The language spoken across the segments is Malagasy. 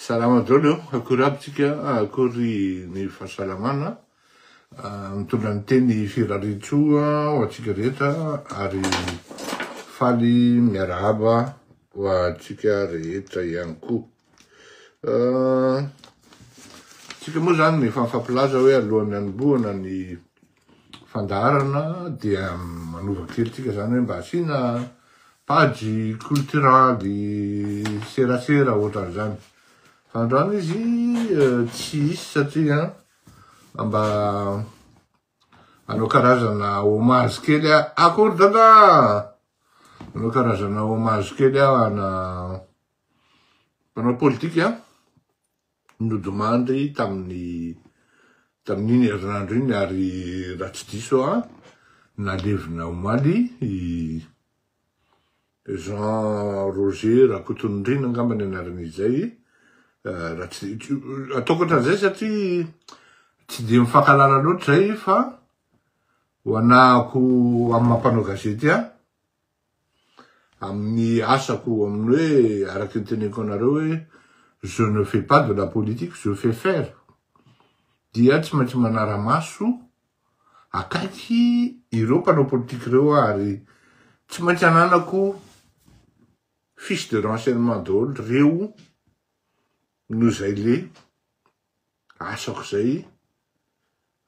Salama daholo eo, akory aby tsika, akory ny fahasalamana. Mitondra ny teny Firaritsoa ho antsika rehetra ary faly miarahaba ho antsika rehetra ihany koa. Tsika moa zany efa mifampilaza hoe alohan'ny hanombohana ny fandaharana dia manova kely tsika zany hoe mba asiana page culturale serasera ohatran'izany fa androany izy euh, tsy hisy satria mba anao karazana hommage kely akory dada anao karazana hommage kely aho ana mpanao politika nodimandry tamin'ny tamin'iny herinandro iny ary raha tsy diso aho nalevina omaly i Jean Roger Rakotonindriana angamba ny anarany izay raha tsy ataoko ohatran'izay satria tsy dia mifankahalala loatra izay fa ho anahako amin'ny mampanao gazety aho amin'ny asako amin'ny hoe araka ny teneniko anareo hoe je ne fais pas de la politique je fais faire dia tsy maintsy manara-maso akaiky ireo mpanao politique ireo aho ary tsy maintsy ananako fiche de renseignement daholo reo no izay le asako izay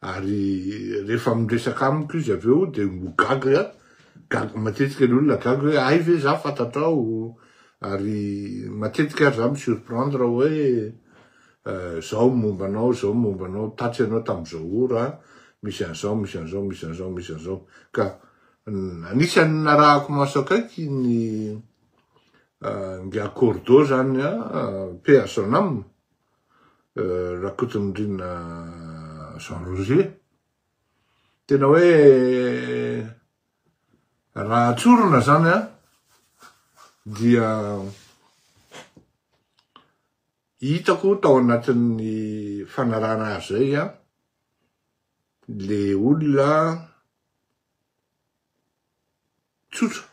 Ary rehefa miresaka amiko izy avy eo dia ho gaga, gaga matetika ny olona gaga hoe hay ve za fantatrao? Ary matetika ary za mi-surprendre hoe zao ny momba anao, zao ny momba anao, tatsy ianao tamin'izao ora a, misy an'izao, misy an'izao, misy an'izao, misy an'izao. Ka anisan'ny narahako maso akaiky ny ingahy Cordeau zany a, paix à son âme, Rakotonindrina Jean Roger, tena hoe raha tsorina zany an, dia hitako tao anatin'ny fanarahana azy zay an, le olona tsotra.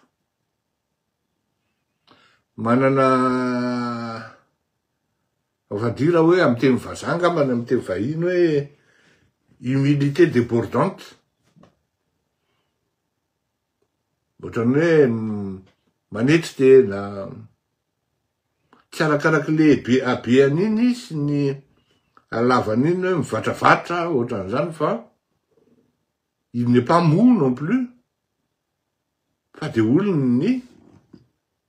Manana on va dire hoe amin'ny teny vazaha angamba na amin'ny teny vahiny hoe humilité débordante. Ohatran'ny hoe manetry tena, tsy arakaraky lehibe habeany iny sy ny halavany iny hoe mivatravatra ohatran'izany fa il n'est pas mou non plus fa dia olon' ny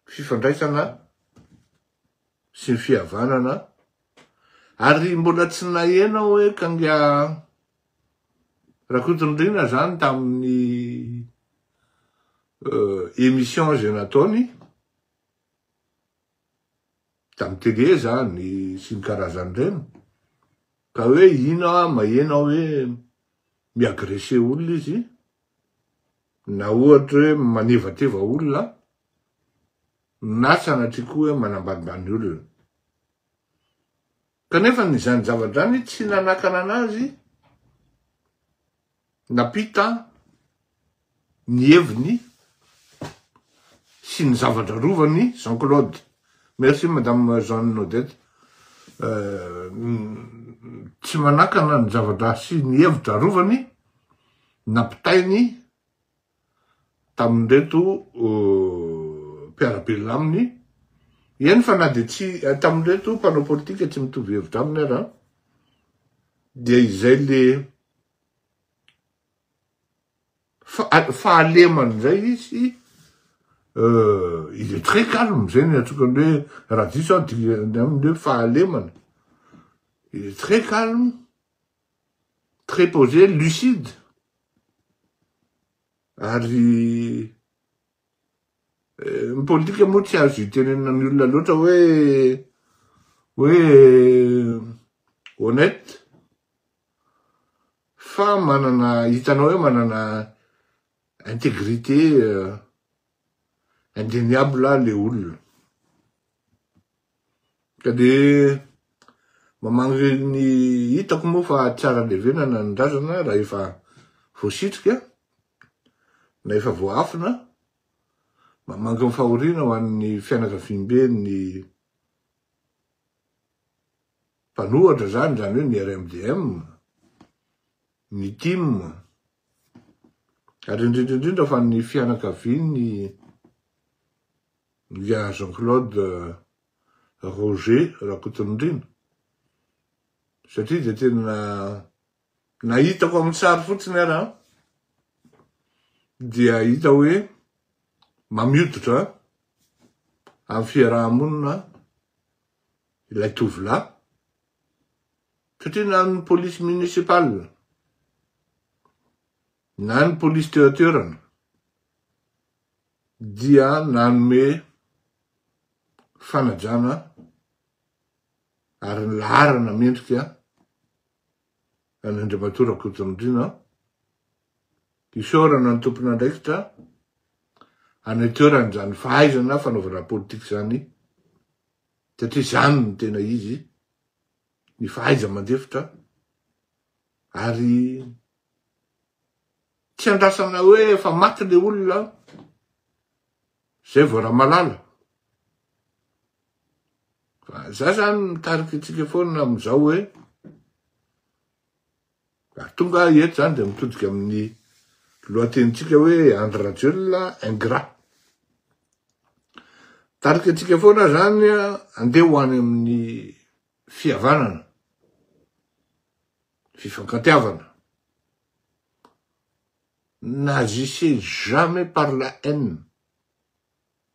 fifandraisana sy ny fihavanana ary mbola tsy naheno aho hoe kanga Rakotonirina zany tamin'ny euh, émission izay nataony tamin'ny tele zany sy ny karazan'ireny ka hoe ina mahena hoe miagrese olona izy na ohatra hoe manevateva olona na sanatria koa hoe manambanimbany olona kanefa ny izany zavadrany tsy nanakana anazy Nampita ny heviny sy ny zava-drarovany Jean Claude. Merci Madame Jeanne Odette. Tsy manakana ny zava-draha sy ny hevitra arovany nampitainy tamin'ireto mpiara-belona aminy, eny fa na dia tsy, tamin'ireto mpanao politika tsy mitovy hevitra aminy aza, dia izay le fahalemana izay izy, il est très calme, izay no iantsoako an'le hoe, raha diso aho, dingana aminy hoe fahalemana, il est très calme, très posé, lucide, ary eh, ny politika moa tsy azo itenenina ny olona loatra hoe hoe honnête fa manana hitanao hoe manana intégrité eh, Indeniable le olona. Ka de mamangy ny hitako moa fa tsara levenana ny razana raha efa voasitrika na efa voahafina. Mamangy ny fahoriana ho an'ny fianakaviambe ny mpanohatra zany, zany hoe ny RMDM, ny tim, Ary indrindra indrindra fa ny fianakavian'ny Lia Jean Claude Roger Rakotonindrina satria dia tena nahitako amin'ny sary fotsiny ara dia hita hoe mamioditra amin'ny fiaraha-monina ilay tovolahy satria na ny polisy municipal na ny polisy teo an-toerana dia nanome fanajana ary ny laharana mendrika an'Andriamatoa Rakotonindriana isaorana ny tompon'andraikitra any an-toerana izany fahaizana fanaovana politika izany satria izany no tena izy, ny fahaiza-mandefitra ary tsy andrasana hoe efa maty ilay olona izay vao Ramalala. Fa za zany mitarika antsika foana amin'izao hoe Ary tonga aho eto izany dia mitodika amin'ny lohatenintsika hoe Andry Rajoelina ingrat. Tarika antsika foana izany andeha ho any amin'ny fihavanana, fifankantiavana. N'agissez jamais par la haine.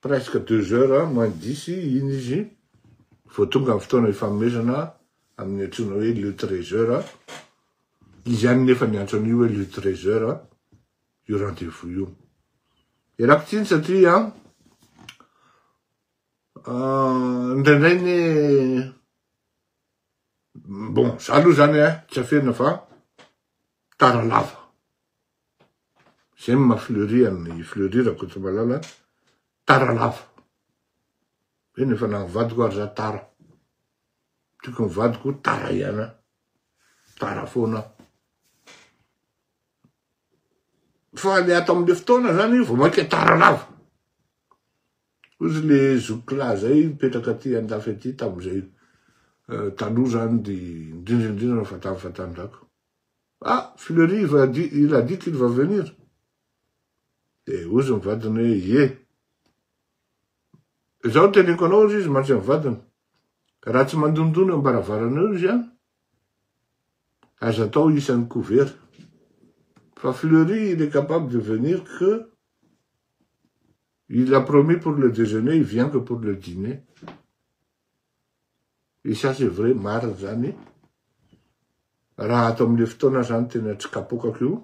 presque deux heures moins dix iny izy vao tonga amin'ny fotoana ifanomezana amin'ny antsoina hoe le treize heures, izy ihany nefa niantso an'io hoe le treize heures io rendez-vous io. Ialako tsiny satria ah, indraindray ny bon za aloha zany eh, tsy afenina fa tara lava. Zay no maha fleury an'i fleury Rakotomalala tara lava. Hoe ny efa naha vadiko ary za tara. Tiako ny vadiko tara ihany aho. Tara foana aho. Fa le ato amle fotoana zany vao maika tara lava. Ozy le zokilahy zay mipetraka aty andafy aty tamzay eh, taloha zany de indrindra indrindra fa tamy fa tanjaka. Ah! Fleury il a dit qu'il va venir? Dia hozy ny vadiny hoe ie. Izaho teneniko anao hozy izy mantsy ny vadiny. Raha tsy mandondona eo am-baravarana eo izy an, aza atao isan'ny couvert. Fa Fleury il est capable de venir que il a promis pour le déjeuner, il vient que pour le dîner. Et ça c'est vrai, marina izany, raha ato amin'ilay fotoana aho izany tena tsy kapokako io,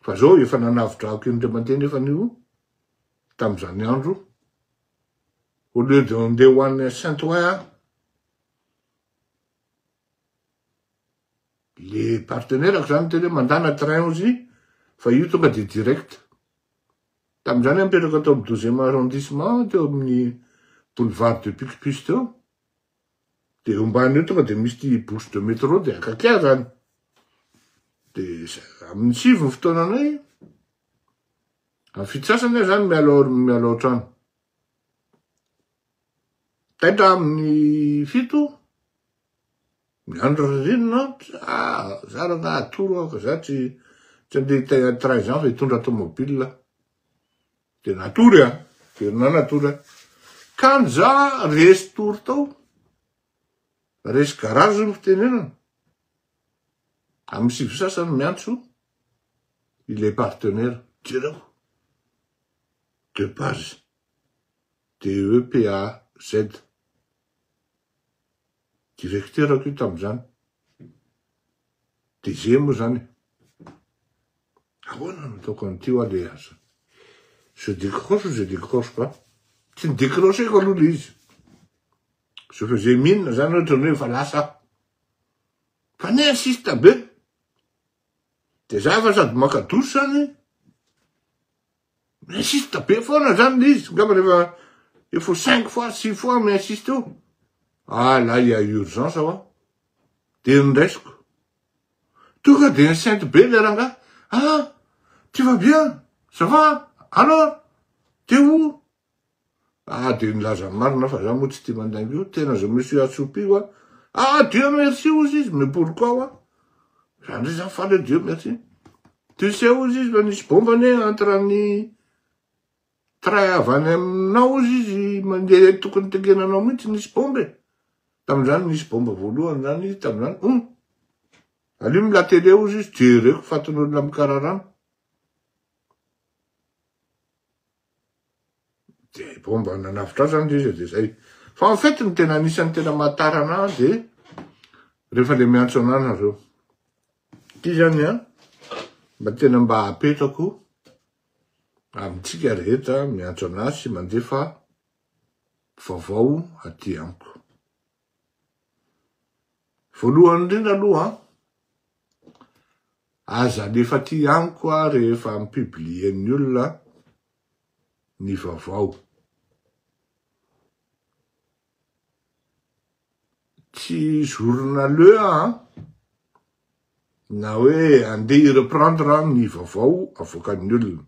fa izao efa nanavodrako indray mandeha nefa io tamin'izany andro, au lieu de handeha ho any Saint Ouen aho, le partenaire-ko izany miteny hoe mandàna train hozy fa io tonga dia direct. Tamin'izany aho nipetraka tao amin'ny douzième arrondissement teo amin'ny boulevard de Picpus teo, dia eo ambany eo tonga dia misy ity bouche de métro dia akaiky ahy izany. Dia amin'ny sivy ny fotoananay, amin'ny fito sasany aho izany miala ao, miala ao an-trano. Taitra amin'ny fito, Ny andro ririnina ah za rangah atoro ah fa za tsy tsy andeha hitay ady trais ans fa hitondra tomobile ah. De natory ah, ririnina natory ah. Kany za resy tory tao, resy garage no fitenenana, amin'ny sivy sasany miantso ilay partenaire, jereo de base de EPAZ. Directeur-ko io tamin'izany. DG moa izany e. Ahoana no ataoko an'ity hoa le asa? Je décroche ou je décroche pas? Tsy ni-décrocher-ko aloha le izy. Je faisais mine izany ohatra ny hoe efa lasa aho. Fa ni insiste be. Dia za efa sady maka douche izany. Mi-insiste be foana zany le izy, angamba rehefa efa cinq fois, six fois mi-insiste eo. Ah là il y a urgence hoa. Dia ny raisiko. Tonga dia enceinte be le rangahy. Ah! Tu vas bien? Ça va? Alors? T'es où? Ah dia nilaza ny marina fa za moa tsy tia mandainga io, tena je me suis assoupi wa, ah Dieu merci hozy izy, mais pourquoi wa, za ndray za faly hoe Dieu merci, tu sais hozy izy fa nisy bomba anie entre ny train avy any aminao hozy izy mandeha eny tokony tengenanao mihitsy nisy bomba e, tamin'izany nisy bomba voalohany zany tamin'izany, hum, alio ny la télé hozy izy, jereko fatin'olona mikararano, de vao mba nanavotra azy zany le izy de zay fa en fait ny tena anisan'ny tena mahatara anah de rehefa le miantso anah nareo ty zany a mba tena mba apetrako amintsika rehetra miantso anah sy mandefa vaovao aty amiko Voalohany indrindra aloha, aza alefa aty amiko rehefa mi-publier-n'ny olona ny vaovao. Tsy journaleux aho, na hoe andeha hi-reprendre ny vaovao avoakan'ny olona.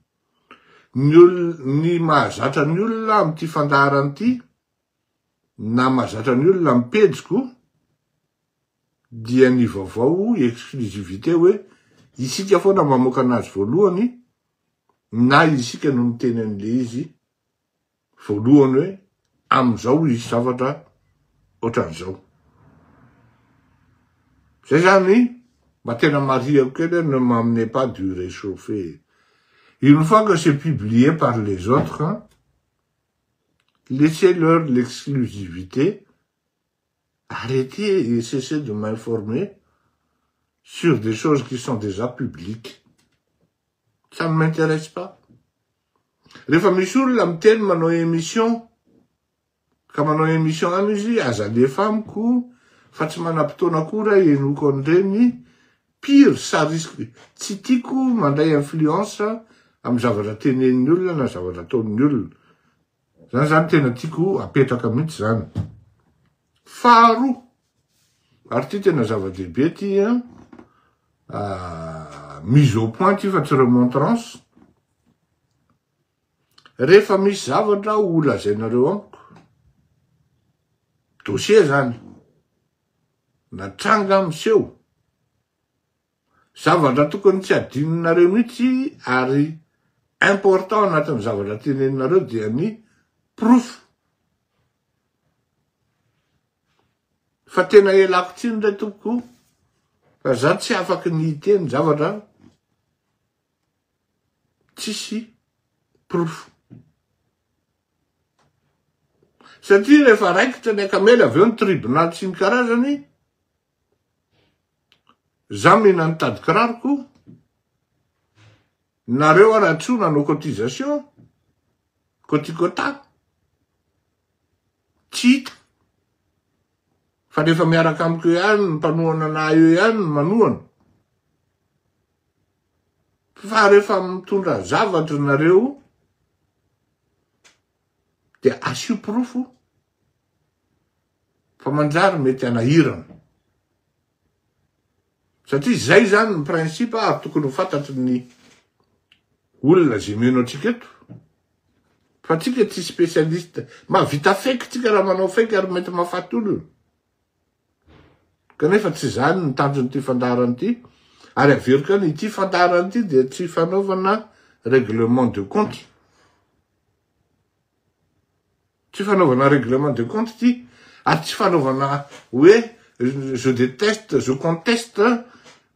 Ny olona, ny mahazatra ny olona amin'ity fandaharana ity, na mazatra ny olona am pejiko dia ny vaovao exclusivité hoe isika foana mamoaka anazy voalohany na isika no miteny anle izy voalohany hoe amzao hisy zavatra otranzao zay zany mba tena marihako kely ne m'amenez pas du rechauffer une fois que c'est publié par les autres Laissez leur l'exclusivité, arretez et cessez de m'informer sur des choses qui sont déjà publiques. Ça ne m'intéresse pas. Rehefa misy olona miteny manao émission, ka manao émission any izy, aza alefa amiko, fa tsy manam-potoana koa raha henoko an'ireny, Pire ça risque tsy tiako mandray influence amin'ny zavatra tenenin'ny olona na zavatra ataon'ny olona. Zany zany tena tiako apetraka mihitsy zany. Faharoa, ary ty tena zava-dehibe ty an, ah, mise au point ty fa tsy remontrance, rehefa misy zavatra ho lazainareo amiko, dossier zany, na tranga miseho. Zavatra tokony tsy adinonareo mihitsy ary important anatin'ny zavatra teneninareo dia ny porofo. Fa tena elako tsiny ndray tompoko fa za tsy afaky ny hiteny zavatra tsisy porofo. Satria rehefa raikitra ny akamela avy eo ny tribonaly sy ny karazany, za mena ny tadikiraroko, nareo ara tsy nanao cotisation, kotikota, tsy hita, fa rehefa miaraka amiko eo ihany ny mpanohana anah eo ihany no manohana, Fa rehefa mitondra zavatra nareo dia asio porofo fa manjary mety hanahirana. Satria izay izany ny principe ary tokony ho fantatry ny olona izay mino antsika eto. Fa tsika tsy spécialiste. Mahavita fake tsika raha manao fake ary mety mahafaty olona. Kanefa tsy izany ny tanjon'ity fandaharana ity, ary averiko ihany, ity fandaharana ity dia tsy fanaovana règlement de compte. Tsy fanaovana règlement de compte ity, ary tsy fanaovana hoe je déteste, je conteste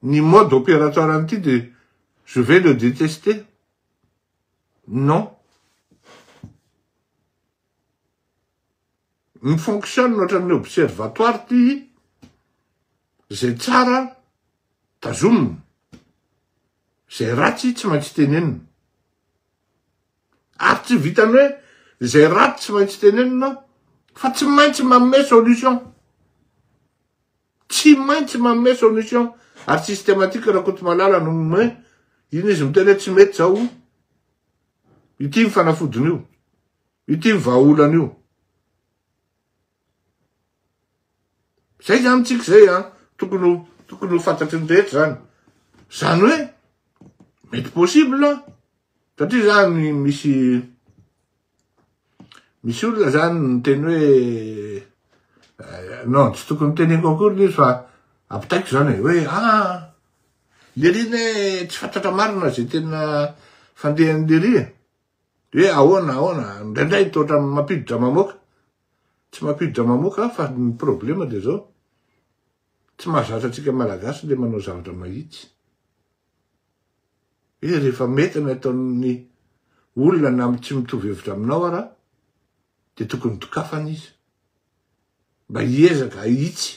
ny mode opératoire an'ity dia je vais le détester. Non. Mi fonctionne ohatran'ny observatoire ty, zay tsara tazomina, zay ratsy tsy maintsy tenenina. Ary tsy vitan'ny hoe zay ratsy tsy maintsy tenenina aho fa tsy maintsy manome solution, tsy maintsy manome solution ary systematique Rakotomalala no manome, iny izy miteny hoe tsy mety zao, Ity ny fanafodiny io. Ity ny vahaolany io. Zay zany tsika zay an, tokony tokony ho fantatry ny rehetra zany. Zany hoe mety possible satria zany misy Misy olona zany miteny hoe eh, non tsy tokony teneko akory le izy fa ampitaiko zany hoe ah lery ne tsy fantatra marina zay tena fandehan'ny lery e. hoe ahoana ahoana indraindray toatra mampiditra mamoaka tsy mampiditra mamoaka fa ny problema de zao tsy mahazatra atsika malagasy le manao zavatra mahitsy Izy rehefa mety ny ataon'ny olona na amin'ny tsy mitovy hevitra aminao ara dia tokony dokafana izy mba hiezaka hahitsy.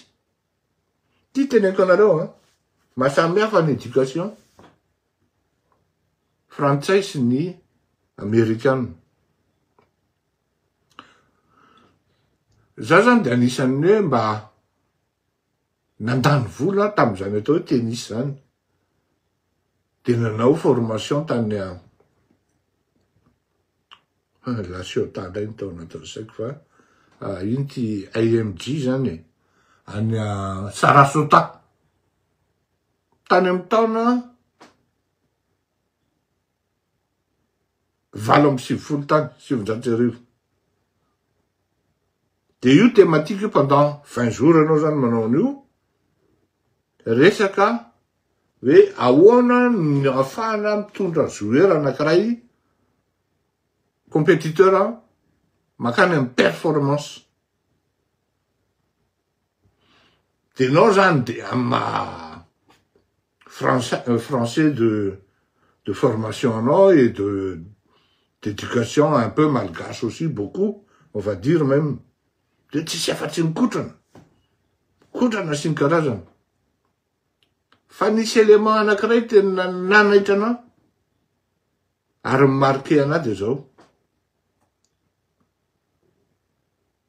Ty teneniko anareo an, mahasamihafa ny éducation frantsay sy ny amerikana. Za zany dia anisan'ny hoe mba nandany vola tamin'izany atao hoe tennis izany, dia nanao formation tany a, ah, La Ciotat indray ny tao anatin'ny saiko fa ah, ino ity AMG izany e, any a Sarasota, tany amin'ny taona valo amby sivifolo tany, sivinjato sy arivo. Dia io thématique io pendant vingt jours ianao zany manao an'io, resaka hoe ahoana no ahafahana mitondra joueur anankiray compétiteur makany amin'ny performance. Dia ianao zany dia amin'ny maha. français de de formation anao et de d'éducation un peu malgache aussi beaucoup on va dire même de tsisy afatsy ny kotrana kotrana sy ny karazany fa nisy élément anakiray tena nanaitra anao ary mi-marquer anao de zao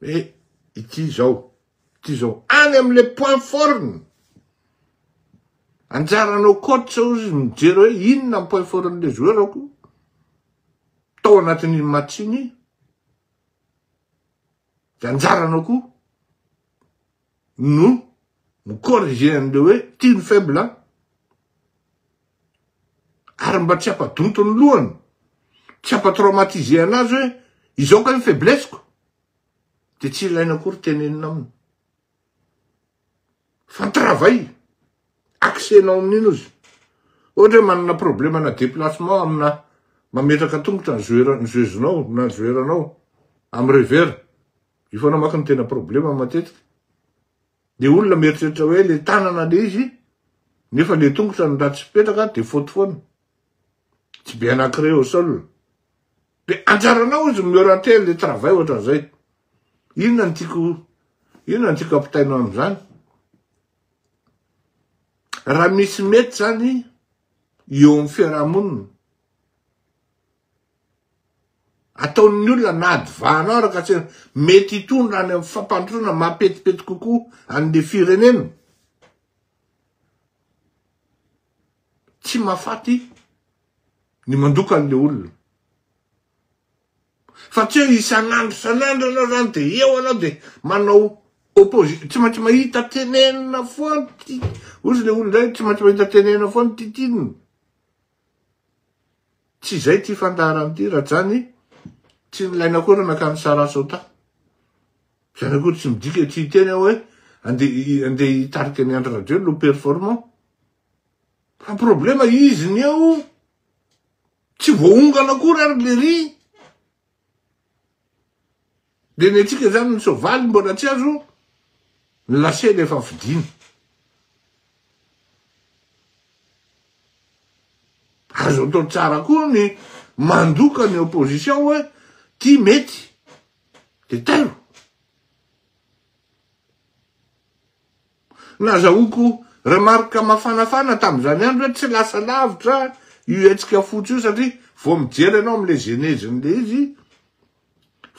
Hoe ity izao, ity izao. Any amin'ilay point forme. Anjaranao coach ozy mijery hoe inona ny point forme-n'ilay joueur-ako tao anatin'iny match iny. Dia anjaranao koa no mi-corriger an'ilay hoe ity ny faible an. Ary mba tsy hampadonto ny lohany, tsy hampatraumatiser anazy hoe izao kay ny faiblesse-ko. Dia tsy ilaina akory tenenina aminy. Fa ny travail, accès-nao amin'iny ozy. Ohatra hoe manana problème-na déplacement amina mametraka tongotra ny joueur-nao na ny joueur-nao amin'ny revers. Io foana manko no tena problema matetika. Le olona mieritreritra hoe le tanana le izy, nefa le tongotra no ratsy fipetraka de faute foana. Tsy bien ancré au sol. De anjaranao izy miorienter le travail ohatran'izay. Inona no tiako inona no tiako ampitaina amin'izany? Raha misy mety zany eo amin'ny fiarahamonina ataon'ny olona na adva anao Rakatsehra, mety hitondra any amin'ny fampandrosoana mahapetipety kokoa an'le firenena. Tsy mahafaty ny mandoka an'le olona. Fa tsy hoe isan'andro isan'andro anao zany de eo anao de manao opposition, tsy maintsy mahita tenenina foana, hozy le olona indray tsy maintsy mahita tenenina foana titinina. Tsy izay ity fandaharana ity Rajany tsy nilaina akory nankany Sarasota. Izany akory tsy midika tsy hiteny aho hoe andeha hitarika ny Andry Rajoelina ho performant. Fa problema izy ny eo tsy voaongana akory ary lery. Dia ny antsika izany ny soavaly mbola tsy azo ny lasely efa fidina. Azo atao tsara koa ny mandoka ny opposition hoe ty mety de tairo. Nazahoako remarque mafanafana tamin'izany andro hoe tsy lasa lavitra io hetsika fotsy io satria vao mijery ianao amin'ilay genèse-n'ilay izy,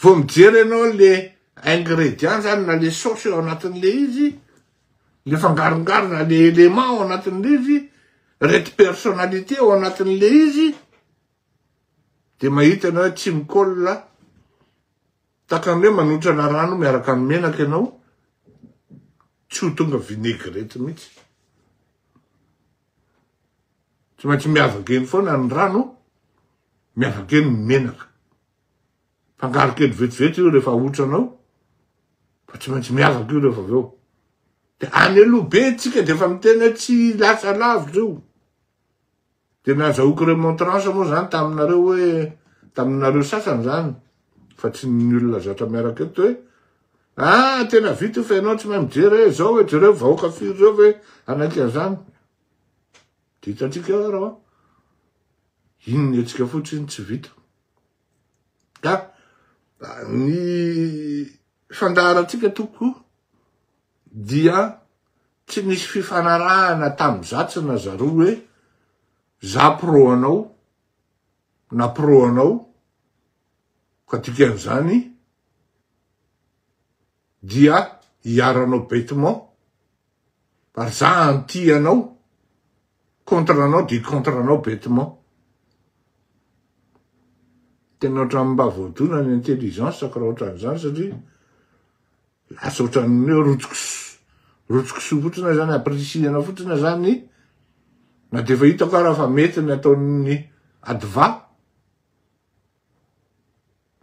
vao mijery ianao ilay ingrédients izany na ilay sauce ao anatin'ilay izy, ilay fangarongarona, ilay éléments ao anatin'ilay izy, ireto personnalités ao anatin'ilay izy dia mahita ianao hoe tsy mi-colle. Takany hoe manotrana rano miaraka amin'ny menaka ianao, tsy ho tonga vinaigrette mihitsy. Tsy maintsy miavaka eny foana ny rano, miavaka eny ny menaka. Fangaro kely vetivety io rehefa ahotranao, fa tsy maintsy miavaka io rehefa avy eo. Dia any aloha be tsika dia efa miteny hoe tsy lasa lavitra io. Dia nazahoako remontrance moa zany taminareo hoe taminareo sasany zany fa tsy ny olona zatra miaraka eto hoe ah tena vita io fa ianao tsy mahay mijery hoe zao hoe jereo vahoaka firy reo ve hanaiky an'izany. Dia hitantsika eo ary an. Iny ny hetsika fotsiny tsy vita. Ka ny fandaharantsika toko dia tsy nisy fifanarahana tamin'i Zatsy na Zaro hoe za pro anao na pro anao ka dikan'izany dia hiaranao bêtement ary za anti anao contre anao dia contre anao bêtement tena ohatran'ny mba voadona ny intelligence ko raha ohatran'izany satria Lasa ohatran'ny hoe rotsoks rotsoks fotsiny zany apprecier-na fotsiny zany na dia efa hitako ara fa mety ny ataon'ny adva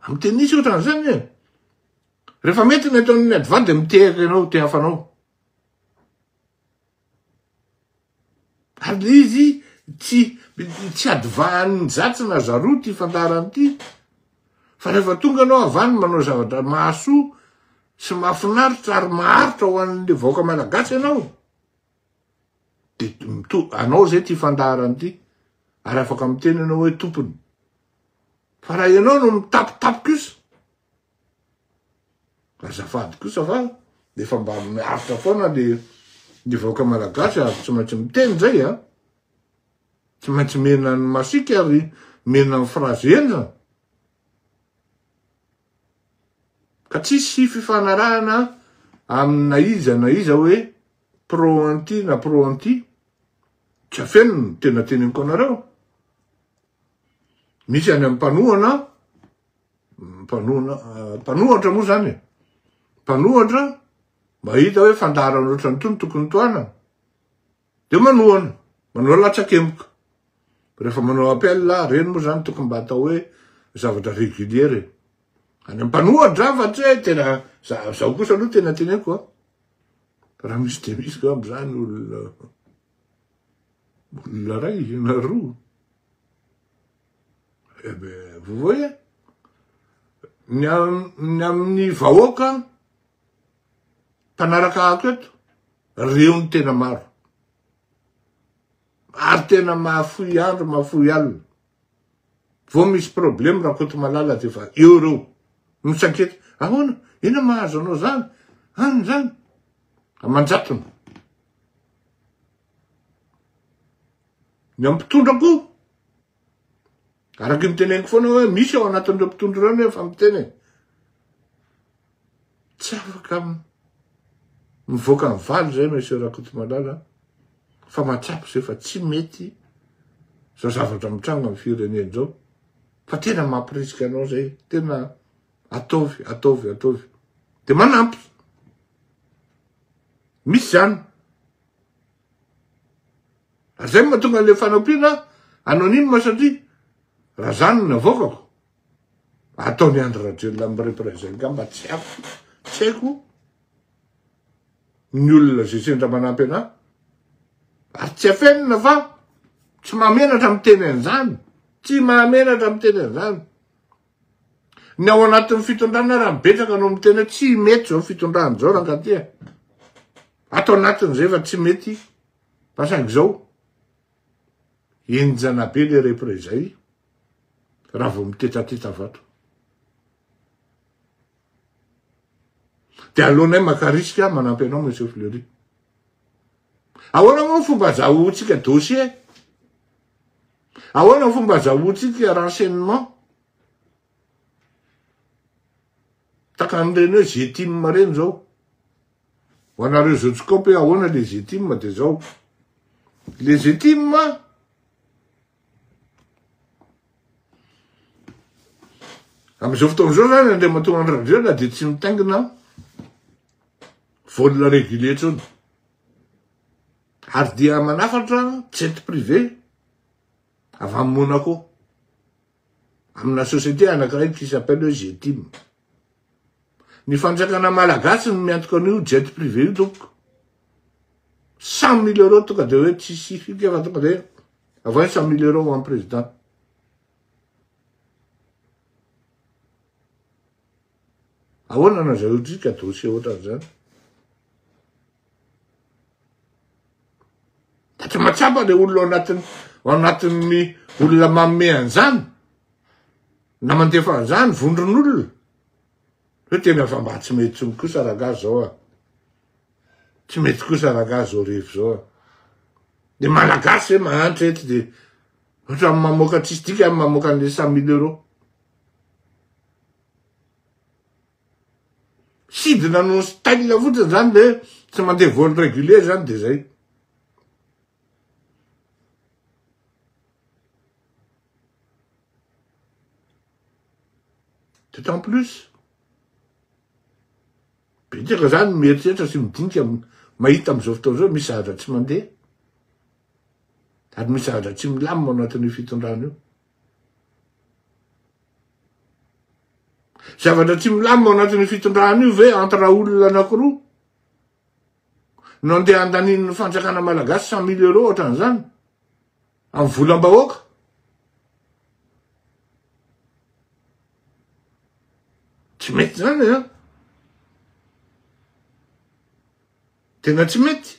amin'ny tenisy ohatran'izany e rehefa mety ny ataon'ny adva dia mitehaka ianao te hafanao Ary le izy tsy tsy adivahan'ny zatsy na zaroa ty fandaharana ty fa rehefa tonga anao avy any manao zavatra mahasoa sy mahafinaritra ary maharitra ho an'le vahoaka malagasy ianao de mito- anao zay ty fandaharana ty ary afaka miteny ianao hoe tompony fa raha ianao no mitapitapy kosa Azafady kosa fa efa mba miaritra foana le ny vahoaka malagasy ary tsy maintsy miteny zay a. Tsy maintsy mena ny masika ary mena ny frazy enina. Ka tsisy fifanarahana amina iza na iza hoe pro anti na pro anti. Tsy afenina ny tena teneniko anareo. Misy any am-panohana Mpanohatra moa zany e. Mpanohatra mahita hoe fandaharana ohatrany tony tokony tohanana. Dia manohana, manao latsakemboka. Rehefa manao appel, reny moa zany tokony mba atao hoe zavatra régulier e. Any mpanohatra fa tsy hoe tena zaho kosa aloha tena teneko a. Raha misy dia misy ko amin'izany olona olona ray na roa. Vous voyez Ny amin'ny vahoaka mpanaraka ako eto, reo ny tena maro. Ary tena mahafoy andro, mahafoy alina. Vao misy problème rakoto malala de fa eo reo. Misankety, ahoana, ina mahazo anao zany, any zany. Amanjatony. Ny amin'ny mpitondra koa, araka ny teneniko foana hoe misy ao anatin'ireo mpitondra ireo ny efa miteny e. Tsy afaka mivoaka ny valy izay Monsieur Rakotomalala fa mahatsapa izay fa tsy mety izao zavatra mitranga amin'ny firenena izao fa tena mampirisika anao izay tena ataovy, ataovy, ataovy. Dia manampy. Misy izany. Ary zay mahatonga an'ilay fanampiana anonyme satria raha zany no navoakako, ataon'i Andry Rajoelina amin'ny représailles angamba tsy haiko, tsy haiko ny olona izay sendra manampy anà, ary tsy afenina fa tsy mahamenatra miteny an'izany, tsy mahamenatra miteny an'izany, Ny ao anatin'ny fitondrana ary ny betsaka no miteny hoe tsy mety izao fitondrana izao rankatia. Ato anatin' izay efa tsy mety fa saingy izao enjana be le repre izay raha vao mitetateta vato. Dia alohanay maka risque manampy anao monsieur Fleury. Ahoana moa fomba azahoantsika dossier Ahoana ny fomba azahoantsika renseignement tahaka an'ireny hoe Zetim ireny izao? Ho anareo izao tsy kaopy hoe ahoana ilay Zetim dia izao. Ilay Zetim Amin'izao fotoana izao izany Andriamatoa Andry Rajoelina dia tsy mitaingina vol régulier intsony. Ary dia manafatra jet privé avy amin'ny Monaco, amina société anankiray qui s'appelle hoe Getim. Ny fanjakana malagasy no miantoka an'io jet privé io tompoko. 100 mille euros tonga dia hoe tsy sifika fa tonga dia avy 100 mille euros ho an'ny président. Ahoana no azahoantsika dossier ohatran'izany? Fa tsy mahatsapa le olona ao anatin'ny ao anatin'ny olona manome an'izany na mandefa an'izany vondron'olona. Hoe tena fa mba tsy mety tsony kosa rangahy zao a. Tsy mety kosa rangahy zao rehefa zao a. Ny malagasy zay mahantra eto dia ohatran'ny mamoaka tsisy dikany mamoaka an'ilay cent mille euros. Sidina no style fotsiny zany de tsy mandeha vol regulier zany de zay. D'autant plus betsaka zany mieritreritra sy midinika mahita am'zao fotoana zao misy zavatra tsy mandeha ary misy zavatra tsy milamina ao anatin'io fitondrana io. Zavatra tsy milamina ao anatin'io fitondrana io ve entre olona anankiroa no andeha andanin'ny fanjakana malagasy cent mille euros ohatran'izany amin'ny volam-bahoaka? Tsy mety izany an! Eh? Tena tsy mety.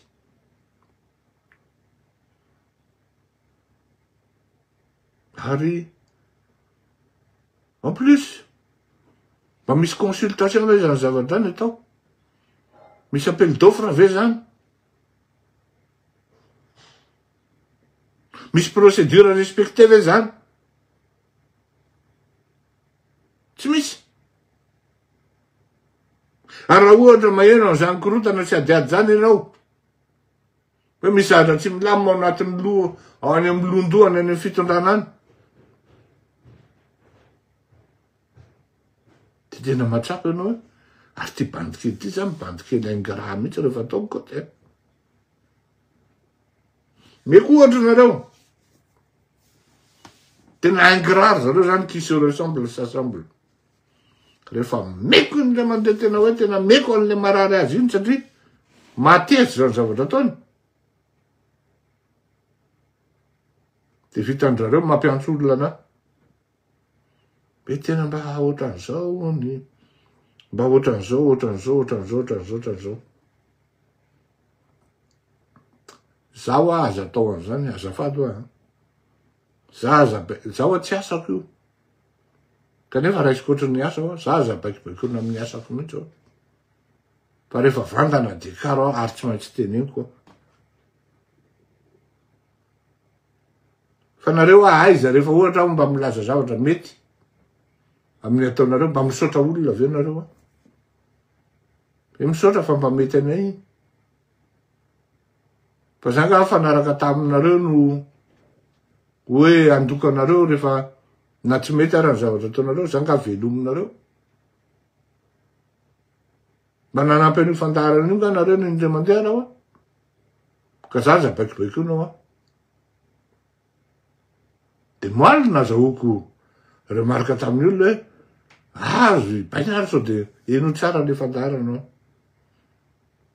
Ary en plus, mba misy consultation ve zany zava-drany atao? Misy appel d'offre ve zany? Misy procédure respecté ve zany? Tsy misy. Ary raha ohatra maheno an'izany korontana tsy adiady zany ianao, Hoe misy zaza tsy milamina ao anatin'ny loha, ao any amin'ny lohan-dohany, any amin'ny fitondrana any. Dia tena matsapa ianao hoe, ary ity bandy kely ity izany bandy kely ingrat mihitsy rehefa ataoko koa dia. Meko ohatra nareo. Tena ingrat zareo izany qui se ressemble s'assemble. Rehefa meko iny le mandeha tena hoe tena meko an'le marary azy iny satria mateza zany zavatra ataony. De vitan'zareo mampiantso olona na. Be tena mba ohatran'izao ny mba ohatran'izao ohatran'izao ohatran'izao ohatran'izao ohatran'izao. Zaho aza atao an'izany azafady hoa. Za aza be, za hoa tsy asako io. Kanefa raisiko ohatry ny asa aho, za aza baikobaikoina amin'ny asako mihitsy aho. Fa rehefa vantana dia karo aho ary tsy maintsy teneniko aho. Fa nareo aho aiza rehefa ohatra aho mba milaza zavatra mety amin'ny ataonareo mba misaotra olona avy eo nareo aho. Dia misaotra fa mba mety anay iny. Fa za nga fa naraka taminareo no hoe andoka anareo rehefa na tsy mety ara ny zavatra ataonareo za nga velominareo. Mba nanampy an'io fandaharana io nga nareo ny indray mandeha anao an. Ka za aza baikobaikoinao an. De moaly nazahoako remarque tamin'ny olona hoe azo hibaina ary sao de heno tsara le fandaharana an.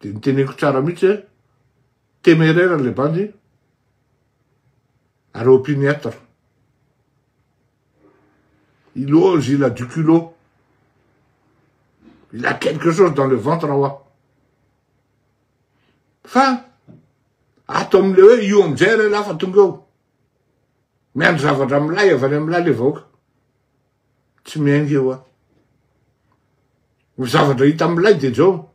Dia niteneniko tsara mihitsy hoe téméraire ilay bandy ary opiniâtre. Il ose, il a du culot. Il a quelque chose dans le ventre hoa. Fa ato amin'ilay hoe io amin'izay ilay lafa tonga eo. Miandry zavatra milay avy any amin'ilay ilay vahoaka. tsy miainga eo an. Ny zavatra hita amin'ilay dia izao,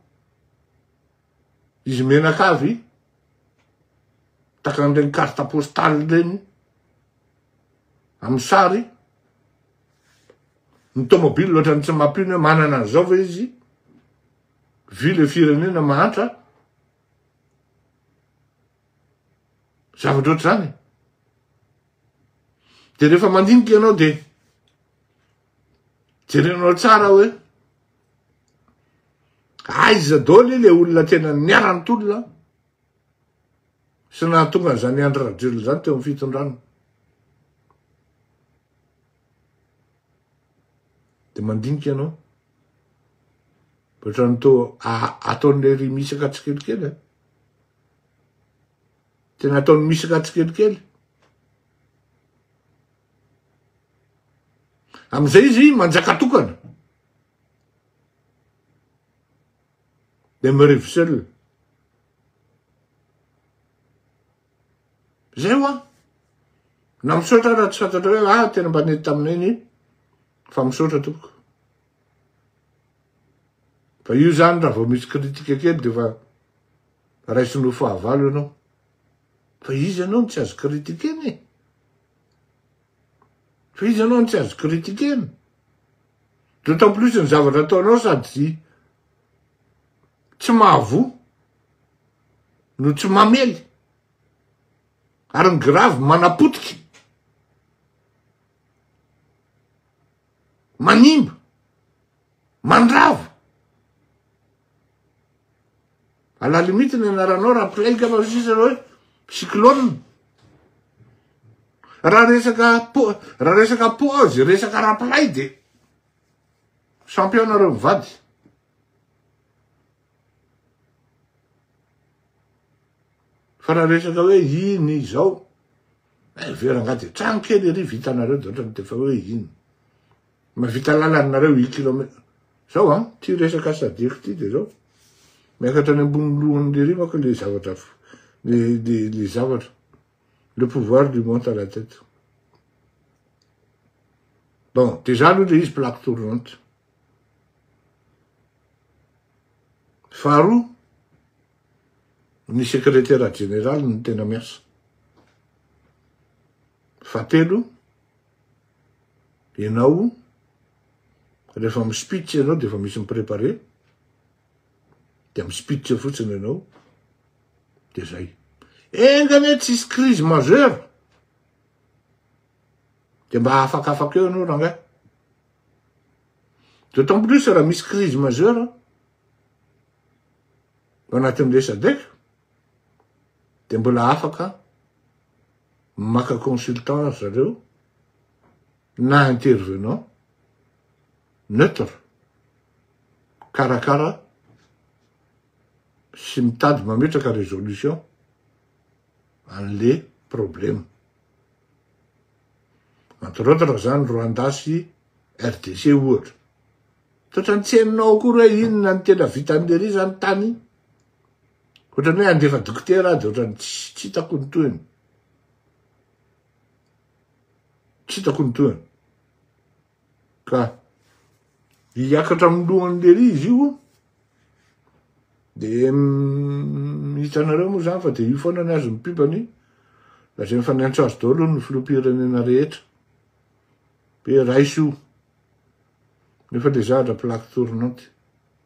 izy menaka avy, tahaka an'ireny carte postale ireny, amin'ny sary, ny tomobile ohatran'ny tsy mampino hoe manana an'izao ve izy, vy le firenena mahantra, zavatra ohatr'izany. Dia rehefa mandinika ianao dia jerenao tsara hoe aiza daholo le olona tena niara-nitolona sy nahatonga an'izany Andry Rajoelina izany teo amin'ny fitondrana. Dia mandinika ianao. Ohatran'ny toa ataon'ilay ry misaka tsikelikely. Eh. Tena ataony misaka tsikelikely. Amin'izay izy manjaka tokana. Demeurez seul. Zay hoa. Na misaotra raha tsy fantatra hoe ah tena mba nety taminay ny fa misaotra tompoko. Fa io zany raha vao misy critique kely de fa Raisinao fahavalo ianao. Fa izy ianao no tsy azo critiquena e. Fa izy ianao no tsy azo critiquena. D'autant plus ny zavatra ataonao sady tsy mahavoa no tsy mamely. Ary ny grave manapotika. Manimba. mandrava à la limite ny anaranao raha mpiray ka fa sisa hoe cyclone raha resaka po raha resaka pause resaka raha mpiray de champion nareo mivady fa raha resaka hoe iny izao eh, verangady trano kely ery vitanareo de ohatrany tefa hoe iny Mavita lalany nareo i kilome. Zao an, ty resaka sadec ty de zao. Miakatra any ambony lohany lery manko le zavatra le le le zavatra. Le pouvoir du monte à la tête. Bon, de za aloha le izy plaque tournante. Faharoa, ny sekretera jeneraly no tena miasa. Fahatelo, Ianao rehefa mi speech ianao dia efa misy mi prepare dia mi speech eo fotsiny ianao dia zay. Enga anie tsisy crise majeure dia mba afakafaka eo ianao rangahy. D'autant plus raha misy crise majeure anatin'ilay sadec dia mbola afaka Maka consultant ry zareo na intervenant neutre mikarakara sy mitady mametraka résolution an'le problème. Entre autres zany Rwanda sy RDC ohatra. Toetra ny tsy hainao akory hoe inona ny tena vitan'i Lery zany tany. Ohatrany hoe andefa dokotera aho de ohatrany tsy hitako ny tohiny. Tsy hitako ny tohiny. Ka hiakatra amin'ny lohany lery izy io de mm, hitanareo moa zany fa de io foana ny azy ny pibany lazainy fa niantso azy daholo ny filoham-pirenena rehetra hoe raiso io nefa le zahatra plaque tournante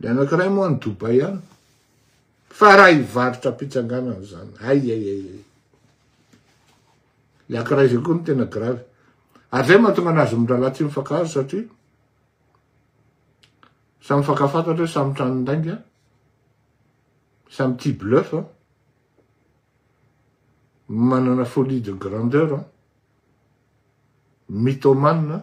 Ny anankiray moa any Dubai any. Fa raha hivarotra am-pitsanganana izany, ay ay ay ay. Ny anankiray izay koa no tena grave. Ary izay mahatonga anazy mirahalahy tsy mifankahazo satria samy mifankafantatra hoe samy tranon-dainga, samy tia bluff, manana folie de grandeur, mythomane,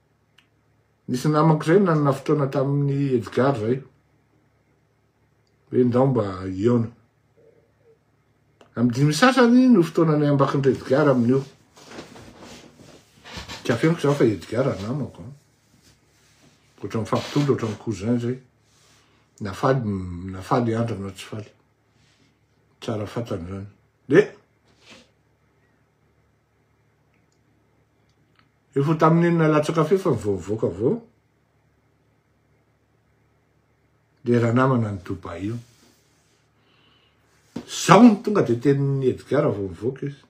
Nisy namako zay nanana fotoana tamin'ny Edgar zay. Hoe ndao mba hihaona. Amin'ny dimy sasany no fotoana ny ambakin'i Edgar amin'io. Kafeniko zany fa Edgar namako. Otra ny fampitondra, otra ny cousin zay. Na faly, na faly andra na tsy faly. Tsara fatany zany. De, Efa tamin'iny nalatsaka feo fa vao mivoaka vao le ranamana any Dubai io. Zao no tonga de tenin'i Edgar vao mivoaka izy.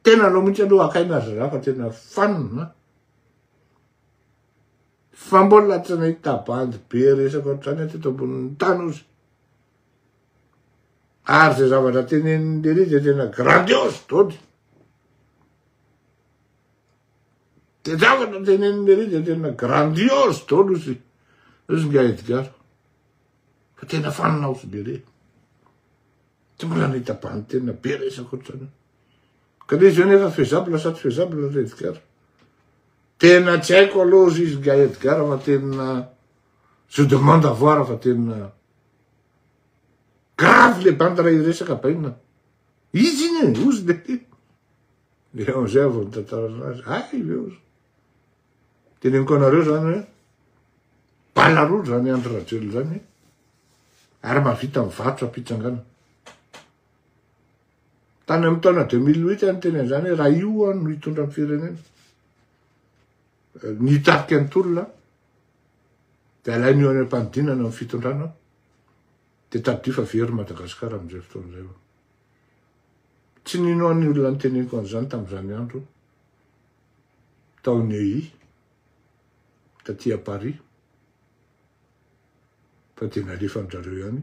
Tena anao mihitsy aloha akaina azy raha fa tena fanina. Fa mbola tsy nahita bandy be resaka ohatr'izany aty eto ambonin'ny tany ozy. Ary izay zavatra tenenin'i Léry dia tena grandiose, dody. Dia zavatra tenenin'i Léry dia tena grandiose, dody ozy. Ozy nga Edgar. Fa tena fanina ozy Léry. Tsy mbola nitaban'ny tena be resako otrany. Ka dia izy nefa faisable sa tsy faisable ilay Edgar. Tena tsy haiko aloha ozy izy nga Edgar fa tena je demande avoir fa tena Grave le bandy raha hiresaka bainina. Izy iny e, ozy be ty. Dia amin'izay avy nitantarana azy, ay ve ozy. Teneniko anareo zany hoe, bala roa zany Andry Rajoelina zany, ary mahavita mivarotra am-pitsangana. Tany amin'ny taona 2008 any teny an'izany raha io no hitondra ny firenena. Nitarika ny tolona, dia alain'io any am-panidinana amin'ny fitondrana, dia tadidio fa very Madagasikara amin'izay fotoana izay hono. Tsy ninoan'ny olona ny teneniko an'izany tamin'izany andro, tao Neuilly, taty à Paris, fa dia nalefan'ny zareo ihany.